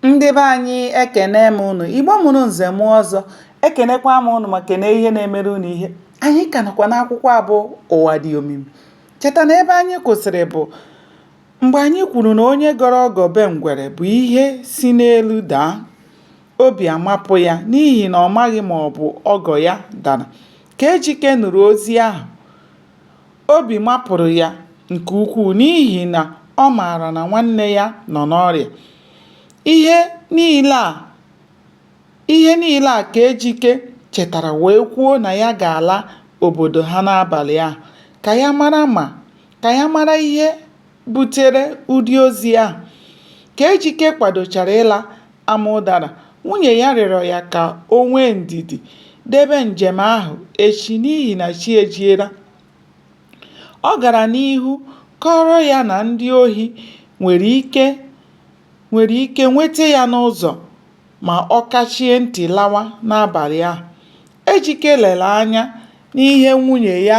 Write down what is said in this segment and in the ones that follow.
ndị be anyị ekene m ụnụ igbo mụrụ nze mụọ ọzọ ekenekwa m ụnụ ma kene ihe na-emere ụnụ ihe anyị ka nọkwa n'akwụkwọ abụ ụwa dị omimi cheta na ebe anyị kwụsịrị bụ mgbe anyị kwuru na onye gọrọ ọgọ be ngwere bụ ihe si n'elu daa obi amapụ ya n'ihi na ọ maghị ma ọ bụ ọgọ ya dara ka ejike nụrụ ozi ahụ Obi mapụrụ ya nke ukwuu n'ihi na ọ maara na nwanne ya nọ n'ọrịa. Ihe niile a Ihe niile a ka Ejike chetara wee kwuo na ya ga-ala obodo ha n'abalị ahụ ka ya mara ma ka ya mara ihe butere ụdị ozi ahụ. Ka Ejike kwadochara ịla Amaụdara, nwunye ya rịọrọ ya ka o nwee ndidi debe njem ahụ echi n'ihi na chi ejiela. Ọ gara n'ihu kọọrọ ya na ndị ohi nwere ike nweta ya n'ụzọ ma ọ kachie ntị lawa n'abalị ahụ. Ejike lere anya n'ihe nwunye ya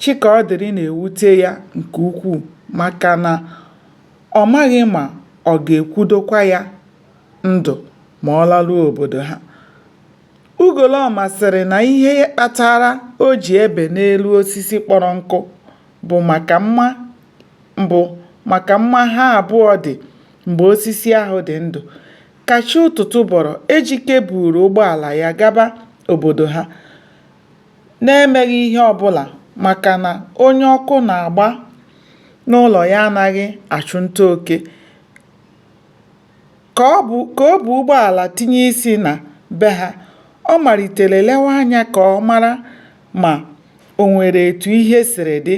Chikaọdịrị na-ewute ya nke ukwuu maka na ọ maghị ma ọ ga-ekwudokwa ya ndụ ma ọ laruo obodo ha. Ugolọma sịrị na ihe kpatara o ji ebe n'elu osisi kpọrọ nkụ bụ maka mma ha abụọ dị mgbe osisi ahụ dị ndụ. Ka chi ụtụtụ bọrọ, Ejike buuru ụgbọala ya gaba obodo ha. na-emeghị ihe ọbụla maka na onye ọkụ na-agba n'ụlọ ya anaghị achụ nta oke, ka o bu ụgbọala tinye isi na be ha, ọ malitere lewe anya ka ọ mara ma o nwere etu ihe siri dị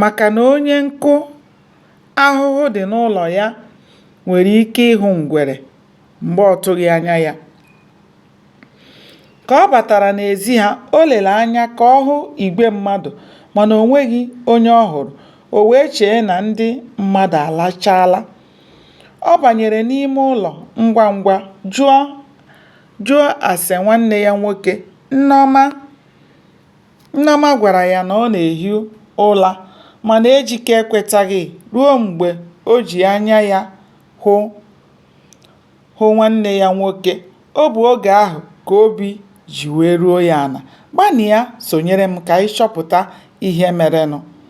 maka na onye nkụ ahụhụ dị n'ụlọ ya nwere ike ịhụ ngwere mgbe ọ tụghị anya ya. Ka ọ batara n'ezi ha, o lere anya ka ọ hụ igwe mmadụ mana o nweghị onye ọ hụrụ, o wee chee na ndị mmadụ alachaala. Ọ banyere n'ime ụlọ ngwa ngwa jụọ ase nwanne ya nwoke. Nneọma gwara ya na ọ na-ehi ụra mana Ejike ekwetaghị ruo mgbe o ji anya ya hụ. hụ nwanne ya nwoke, ọ bụ oge ahụ ka obi ji wee ruo ya ala. Gbanịa sonyere m ka anyị chọpụta ihe merenụ.